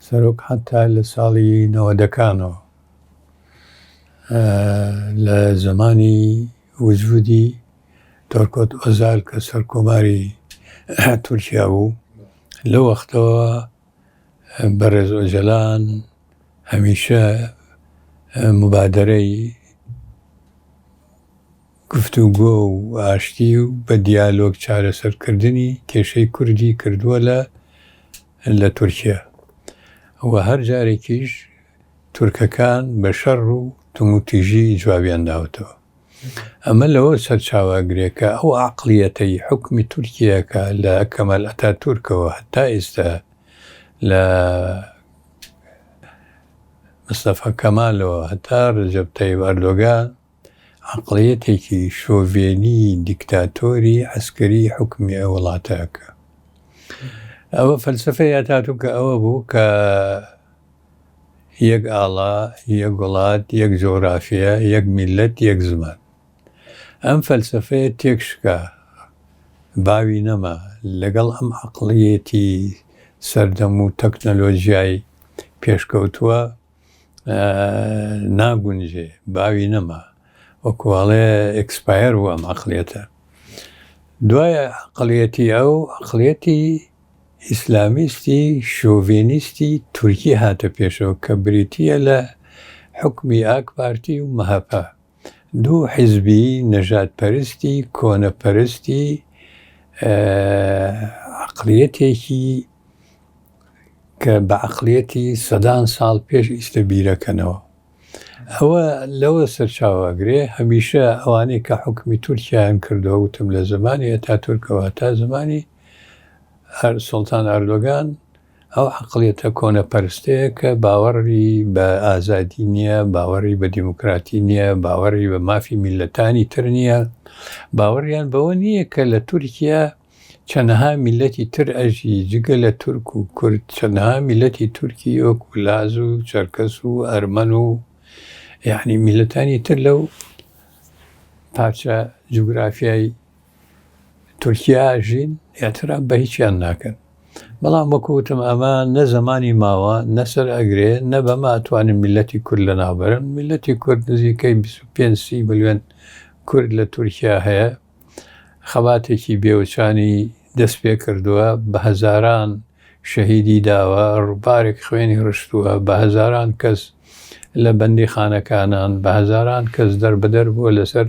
سەرۆک حەتا لە ساڵی نەوەدەکانەوە لە زەمانی وجودی تۆرکۆت ئۆزال کە سەرکۆماری تورکیا بوو لەو وەختەوە بەڕێز ئۆجەلان هەمیشە مبادەرەی گفتوگۆ و ئاشتی و بە دیالۆگ چارەسەرکردنی کێشەی کوردی کردووە لە لە تورکیا و هەر جارێکیش تورکەکان بە شەڕ و توموتیژی جوابیان داوەتەوە. ئەمە لەوە سەرچاوەگرێ کە ئەو عەقڵیەتەی حوکمی تورکیا کە لە کەمال ئەتاتورکەوە هەتا ئیستا لە مستەفا کەمالەوە هەتا رەجەب تەیب ئەردۆگان، عەقڵیەتێکی شۆڤێنی دیکتاتۆری عەسکەری حوکمی ئەو وڵاتە ئەکا. ئەوە فەلسەفەی ئەتاتوکە ئەوە بوو کە یەک ئاڵا، یەک وڵات، یەک جۆغرافیە، یەک میللەت، یەک زمان. ئەم فەلسەفەیە تێک شکا، باوی نەما لەگەڵ ئەم عەقڵیەتی سەردەم و تەکنەلۆژیای پێشکەوتووە. ناگونجێ باوی نەما وەکوواڵێ ئەکسپایر و ئەم عقلێتە دوایە عقلەتی ئەو عقلێتی ئیسلامیستی شۆڤێنیستی تورکی هاتە پێشەوە کە بریتە لە حکمی ئاک پارتی و مەهەپە دوو حیزبی نەژاد پەرستی کۆنە پەرستی عەقڵیەتێکی کە بە عەقڵیەتی سەدان ساڵ پێش ئیستە بیرەکەنەوە ئەوە لەوە سەرچاواگرێ هەمیشە ئەوانەی کە حکومی تورکیایان کردو وتم لە زمانی ئەتا تورکەوە تا زمانی هەر سلتان ئەردۆگان ئەو عەقڵیەتە کۆنەپەرستەیە کە باوەڕی بە ئازادی نییە، باوەڕی بە دیموکراتی نییە، باوەڕی بە مافی میللەتانی تر نییە، باوەڕیان بەوە نییە کە لە تورکیا چەندەها میللەتی تر ئەژی، جگە لە تورک و کورد چەندەها میللەتی تورکی وەکو لاز و چەرکەس و ئەرمەن و یەعنی میللەتانی تر لەو پارچە جوگرافیای تورکیا ئەژین ئیعتراف بە هیچیان ناکەن بەڵام وەکو وتم ئەمە نە زمانی ماوە نەسەر ئەگرێ نە بەمە ئەتوانین میلەتی کورد لە ناوبرن میلەتی کورد نزیکەی 25 ملیۆن کورد لە تورکیا هەیە خەباتێکی بێوچانی دەست پێ کردووە بە هەزاران شەهیدی داوە ڕووبارێک خوێنی ڕشتووە بە هەزاران کەس لە بەندی خانەکانان بە هەزاران کەس دەربەدەر بووە لەسەر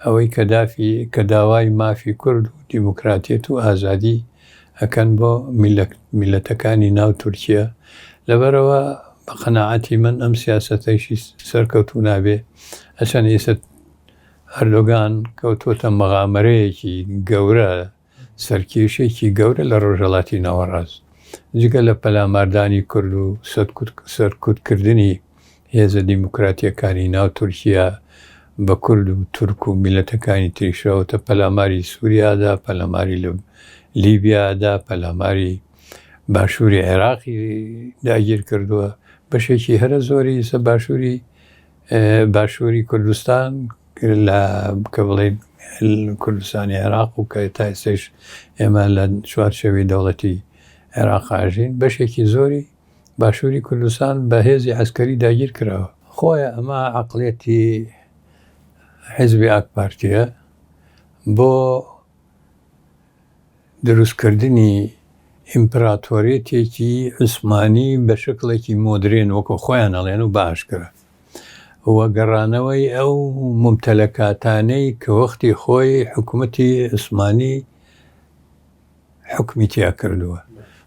ئەوەی کە دافی کە داوای مافی کورد و دیموکراتیەت و ئازادی ئەکەن بۆ میلەک میلەتەکانی ناو تورکیە لەبەرئەوە بە قەناعەتی من ئەم سیاسەتەیشی سەرکەوتوو نابێ ئەچەن ئیسە ئەردۆگان کەوتۆتە مەغامەرەیەکی گەورە سەرکێشێکی گەورە لە ڕۆژهەڵاتی ناوەڕاست، جگە لە پەلاماردانی کورد و سەرکوتکردنی هێزە دیموکراتییەکانی ناو تورکیا بە کورد و تورک و میللەتەکانی تریش ڕەوەتە پەلاماری سوریادا، پەلاماری لیبیادا، پەلاماری باشووری عێراقی داگیر کردووە، بەشێکی هەرە زۆری باشووری کوردستان، لە کە بڵێین کوردستانی عێراق و کە تا ئێستەیش ئێمە لە چوارچێوەی دەوڵەتی عێراق ئاژین بەشێکی زۆری باشووری کوردستان بە هێزی عسکەری داگیر کراوە خۆیە ئەمە عقلێتی حزبی ئاک پارتیە بۆ دروستکردنی ئیمپراتۆریەتێکی عوسمانی بە شکلێکی مۆدرێن وەکو خۆیان ئەڵێن و باشکرا. و گەڕانەوەی ئەو مومتەلەکاتانەی کە وەختی خۆی حکومەتی عوسمانی حکومی تیا کردووە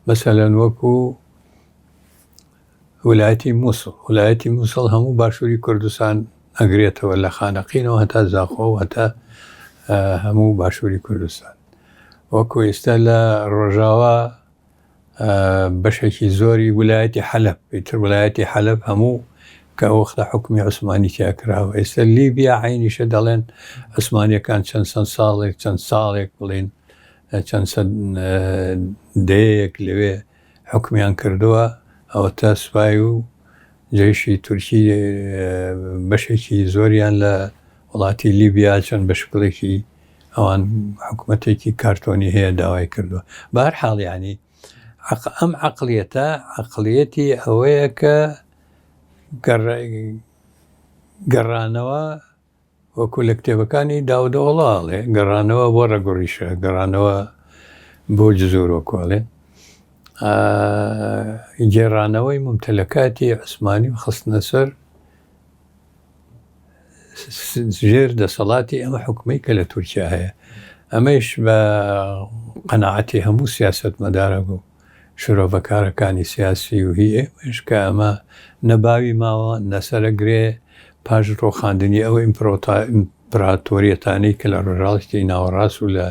مەسەلەن وەکو ولایەتی مووسڵ ولایەتی مووسڵ هەموو باشووری کوردستان ئەگرێتەوە لە خانەقینەوە هەتا زاخۆ هەتا هەموو باشووری کوردستان وەکو ئێستا لە ڕۆژاوا بەشێکی زۆری ولایەتی حەلەب ئیتر ولایەتی حەلەب هەموو کە ئەو وەختە حکومی عوسمانی تیا کراوە ئێستا لیبیا عینیشە دەڵێن عوسمانیەکان چەند چەند ساڵێک چەند ساڵێک بڵین چەند چەند دەیەیەک لەوێ حکومیان کردووە ئەوەتا سوپای و جێشی تورکی بەشێکی زۆریان لە وڵاتی لیبیا چەند بە شکڵێکی ئەوان حکومەتێکی کارتۆنی هەیە داوای کردووە بار حاڵیانی ئەم عقلەتە عقلەتی ئەوەیە کە گەڕانەوە وەکو لە کتێبەکانی داودۆڵاڵێ گەڕانەوە بۆ ڕەگوڕیشە گەڕانەوە بۆ جزۆرۆ کۆڵێ گێڕانەوەی ممتەلەکاتی عوسمانی و خستنە سەر ژێر دەسەڵاتی ئەم حکومەی کە لە تورکیا هەیە ئەمەش بە قەنەعەتی هەموو سیاست مەدارە بوو شرۆڤەکارەکانی سیاسی و هی ئێمەش کە ئەمە نەباوی ماوە نەسرە گرێ پاش ڕۆخاندنی ئەو ئیمپراتۆریەتانی کە لە ڕژاڵشتی ناوەڕاست و لە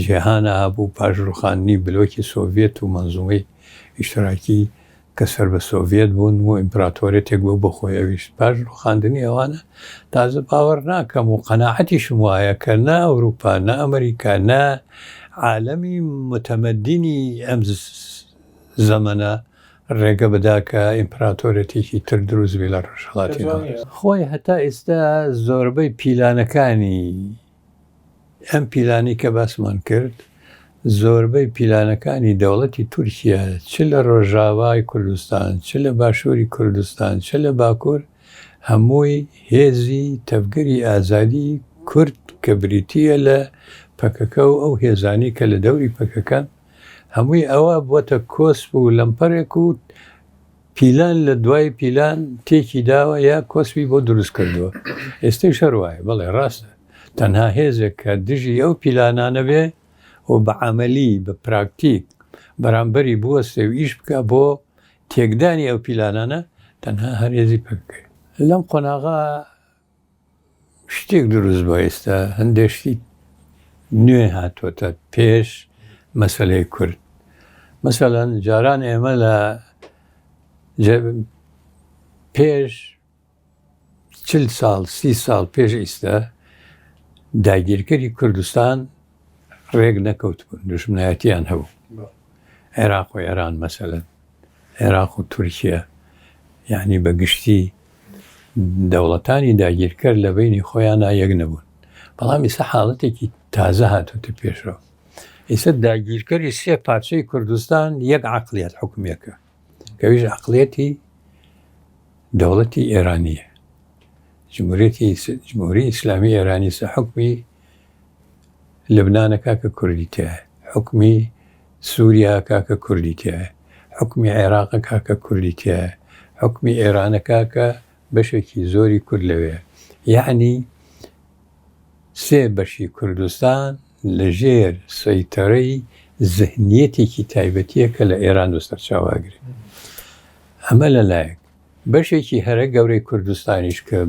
جیهانە هەبوو پاش ڕوخاندنی بلۆکی سۆڤێت و مەنزومەی ئیشتراکی کە سەر بە سۆڤیەت بوون و ئیمپراتۆریەتێک بوو بە خۆی ئەویشت. پاش ڕووخاندنی ئەوانە تازە باوەڕ ناکەم و قەناعەتیشم وایە کە نە ئەوروپا، نە ئەمریکا، نە عالەمی موتەمەدینی ئەم زەمەنە ڕێگە بدا کە ئیمپراتۆریەتێکی تر دروست بێ لە ڕۆژهەڵاتی ناوەڕاست. خۆی هەتا ئیستا زۆربەی پیلانەکانی. ئەم پیلانەی کە باسمان کرد، زۆربەی پیلانەکانی دەوڵەتی تورکیە چ لە ڕۆژاوای کوردستان، چ لە باشووری کوردستان، چ لە باکوور، هەمووی هێزی تەڤگەری ئازادی کورد کە بریتییە لە پەکەکە و ئەو هێزانەی کە لە دەوری پەکەکەن، هەمووی ئەوە بووەتە کۆسپ و لەمپەرێک و پیلان لە دوای پیلان تێکی داوە یا کۆسپی بۆ دروست کردووە ئێستەی شەروایە بەڵێ ڕاستە تەنها هێزێک کە دژی ئەو پیلانانە بێ و بە عملی بە پراکتیک بەرامبەری بوەستێ و ئیش بکە بۆ تێکدانی ئەو پیلانانە تەنها هەرێزی پکەی لەم قۆناغا شتێک دروست بوە ئێستا هەندێ شتی نوێ هاتۆتە پێش مەسلەی کورد مەسەەن جاران ئێمە لە پێش چل ساڵ سی ساڵ پێش ئیستا داگیرکەری کوردستان ڕێک نەکەوت بوون دژمنایەتیان هەبوو عێراق و ئێران مەسەلەن عێراق و تورکیە یەعنی بە گشتی دەوڵەتانی داگیرکەر لە بەینی خۆیانا یەک نەبوون بەڵام ئیسە حاڵەتێکی تازە هاتوتە پێشەوە ئیسە داگیرکەری سێ پارچەی کوردستان یەک عقلیت حکومەکە کەویش عقلەتی دەوڵەتی ئێرانیە جمهورەتی جمهوری ئیسلامی ئێرانی سە حکمی لەبنانەکە کە کوردی تێ حکمی سوریا کاکە کوردی تیایە حوکمی عێراقە کاکە کوردی تیایە حوکمی ئێرانە کاکە بەشێکی زۆری کورد لەوێیە یەعنی سێ بەشی کوردستان لە ژێر سەیتەرەی زهنیەتێکی تایبەتیە کە لە ئێران و سەرچاواگرێ ئەمە لە لایەک بەشێکی هەرە گەورەی کوردستانیش کە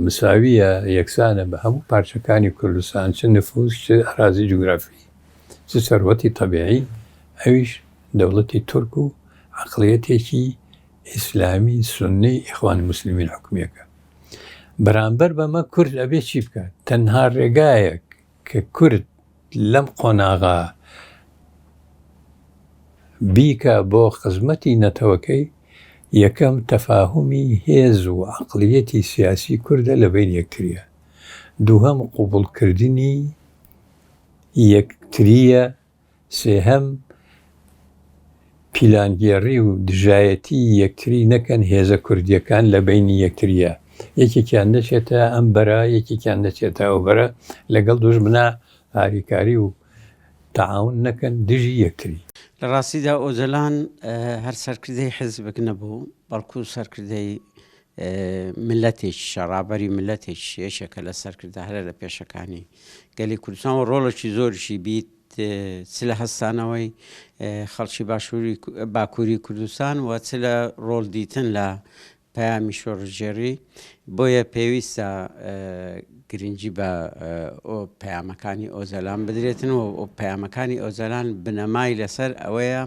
مساویە یەکسانە بە هەموو پارچەکانی کوردستان چ نفوس چ ئەرازی جوگرافی چ سەروەتی تەبیعی، ئەویش دەوڵەتی تورک و عەقڵیەتێکی ئیسلامی سوننەی ئیخوان موسلمین حکومیەکە. بەرامبەر بەمە کورد ئەبێ چی بکات؟ تەنها رێگایەک کە کورد لەم قۆناغە بیکا بۆ خزمەتی نەتەوەکەی، یەکەم تەفاهومی هێز و عەقڵیەتی سیاسی کوردە لە بەین یەکتریا. دووهەم قبوڵکردنی. یەکترییە، سێهەم پیلانگێڕی و دژایەتی یەکتری نەکەن، هێزە کوردییەکان لە بەینی یەکترییە، یەکێکیان نەچێتە ئەم بەرە، یەکێکیان نەچێتە ئەو بەرە، لەگەڵ دوژمنا هاریکاری و تەعاون نەکەن دژی یەکتری. لە ڕاستیدا ئۆجەلان هەر سەرکردەی حیزبێک نەبوو، بەڵکوو سەرکردەی میللەتێکیشە، ڕابەری میللەتێکیشە، یەکێکە لە سەرکردە هەرە لە پێشەکانی گەلی کوردستان و ڕۆڵێکی زۆریشی بیت چ لە هەستانەوەی خەڵکی باشووری باکووری کوردستان و چ لە ڕۆڵ دیتن لە پەیامی شۆڕژێڕی بۆیە پێویستە گرنگی بە پەیامەکانی ئۆزەلان بدرێتن و پەیامەکانی ئۆزەلان بنەمای لەسەر ئەوەیە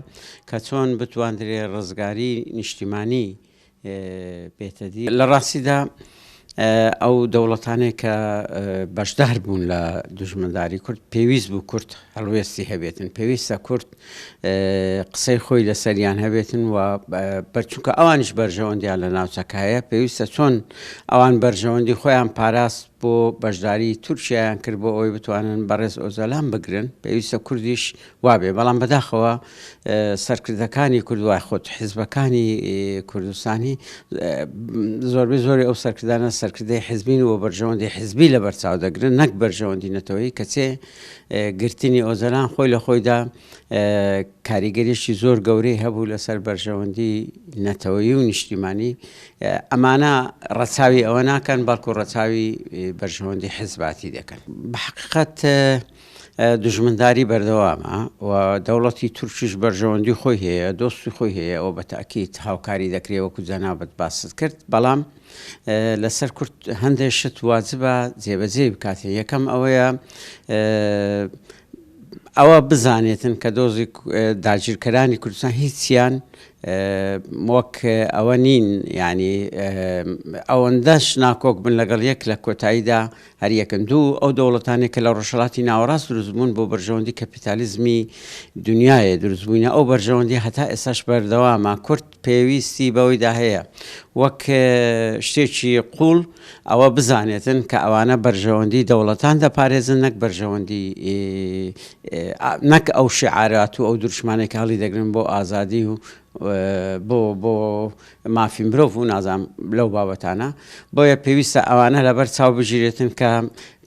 کە چۆن بتواندرێ ڕزگاری نیشتیمانی لە ڕاستیدا ئەو دەوڵەتانەی کە بەشدار بوون لە دوژمنداری کورد پێویست بوو کورد هەڵوێستی هەبێتن پێویستە کورد قسەی خۆی لەسەریان هەبێتن و بەرچووکە ئەوانش بەرژەوەندیان لە ناوچەکایە پێویستە چۆن ئەوان بەرژەوەندی خۆیان پاراست بۆ بەشداری تورکیایان کرد بۆ ئەوەی بتوانن بەڕێز ئۆجالان بگرن پێویستە کوردیش وابێ بەڵام بەداخەوە سەرکردەکانی کورد وای خۆت حزبەکانی کوردستانی زۆربەی زۆری ئەو سەرکردانە سەرکردەی حزبین و بەرژەوەندی حزبی لە بەرچاو دەگرن نەک بەرژەوەندی نەتەوەی کەچێ گرتنی ئۆجالان خۆی لە خۆیدا کاریگەریشی زۆر گەورەی هەبوو لەسەر بەرژەوەندی نەتەوەی و نیشتیمانی ئەمانە ڕەچاوی ئەوە ناکەن بەڵکو ڕەچاوی بەرژەوەندی حزباتی دەکەن بەحقیقەت دژمنداری بەردەوامە و دەوڵەتی تورکیش بەرژەوەندی خۆی هەیە دۆستی خۆی هەیە ئەو بە تاکیت هاوکاری دەکرێت وەکو جەنابەت باست کرد بەڵام لەسەر کورت هەندێک شت واجبە جێبەجێ بکاتێ یەکەم ئەوەیە ئەوە بزانێتن کە دۆزی داگیرکەرانی کوردستان هیچیان وەک ئەوە نین یعنی ئەوەندەش ناکۆک بن لەگەڵ یەک لە کۆتاییدا هەریەکن دوو ئەو دەوڵەتانی کە لە ڕۆژهڵاتی ناوەڕاست دروستبوون بۆ بەرژەوەندی کەپیتالیزمی دنیاە دروستبووینە ئەو بەرژەوەندی هەتا ئێساش بەردەوامە کورد پێویستی بەوەیدا هەیە وەک شتێکی قووڵ ئەوە بزانێتن کە ئەوانە بەرژەوەندی دەوڵەتان دەپارێزن نەک بەرژەوەندی نەک ئەو شعارات و ئەو دروشمانێک هەڵی دەگرن بۆ ئازادی و بۆ بۆ مافی مرۆڤ و نازام لەو بابەتانە بۆیە پێویستە ئەوانە لەبەر چاو بگیرێتن کە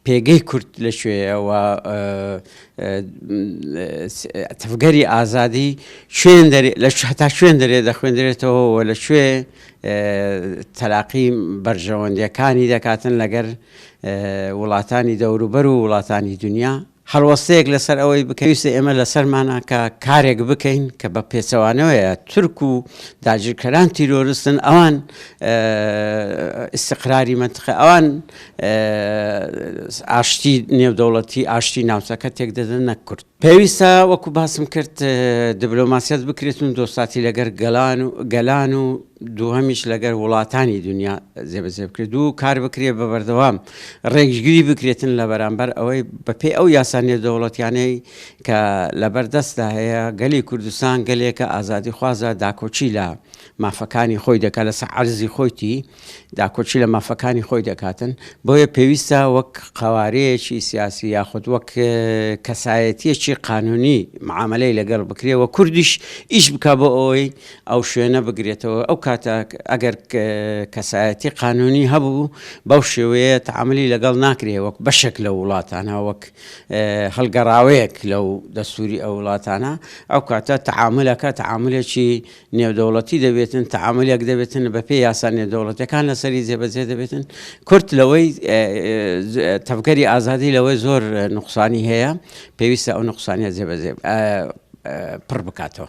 پێگەی کورد لە کوێیە و تەڤگەری ئازادی هەتا کوێن دەرێ دەخوێندرێتەوە و لە کوێ تەلاقی بەرژەوەندیەکانی دەکاتن لەگەر وڵاتانی دەوروبەر و وڵاتانی دنیا هەڵوەستەیەک لەسەر ئەوەی بکەویستە ئێمە لەسەرمانە کە کارێک بکەین کە بە پێچەوانەوەیە تورک و داگیرکەران تیرۆرستن ئەوان ئیسقراری منتخە ئەوان ئاشتی نێودەوڵەتی، ئاشتی ناوچەکە تێکدەدەن نەک کورد. پێویستە وەکو باسم کرد دبلۆماسیەت بکرێت و دۆستاتی لەگەر گەلان و گەلان و دووهەمیش لەگەر وڵاتانی دنیا جێبەجێ بکرێت و کار بکرێت بە بەردەوام ڕێکژگری بکرێتن لە بەرامبەر ئەوەی بەپێی ئەو یاسا نێودەوڵەتیانەی کە لەبەردەستدا هەیە گەلی کوردستان گەلێکە ئازادی خوازە داکۆکی لە مافەکانی خۆی دەکات لەسەر عەرزی خۆیتی داکۆکی لە مافەکانی خۆی دەکاتن، بۆیە پێویستە وەک قەوارەیەکی سیاسی یاخود وەک کەسایەتیەکی قانونی معامەلەی لەگەڵ بکرێ و کوردیش ئیش بکە بۆ ئەوەی ئەو شوێنە بگرێتەوە ئەو کاتە ئەگەر کەسایەتی قانونی هەبوو بەو شێوەیە تعاملی لەگەڵ ناکرێ وەک بەشێک لە وڵاتانە وەک هەڵگەڕاوەیەک لەو دەستوری ئەو وڵاتانە ئەو کاتە تعاملەکە تعاملێکی نێودەوڵەتی دەبێتن، تەعامولێک دەبێتن بەپێی یاسا نێودەوڵەتیەکان لەسەری جێبەجێ دەبێتن، کورد لەوەی تەڤگەری ئازادی لەوەی زۆر نوقسانی هەیە، پێویستە ئەو نوقسانیە جێبەجێ پڕ بکاتەوە.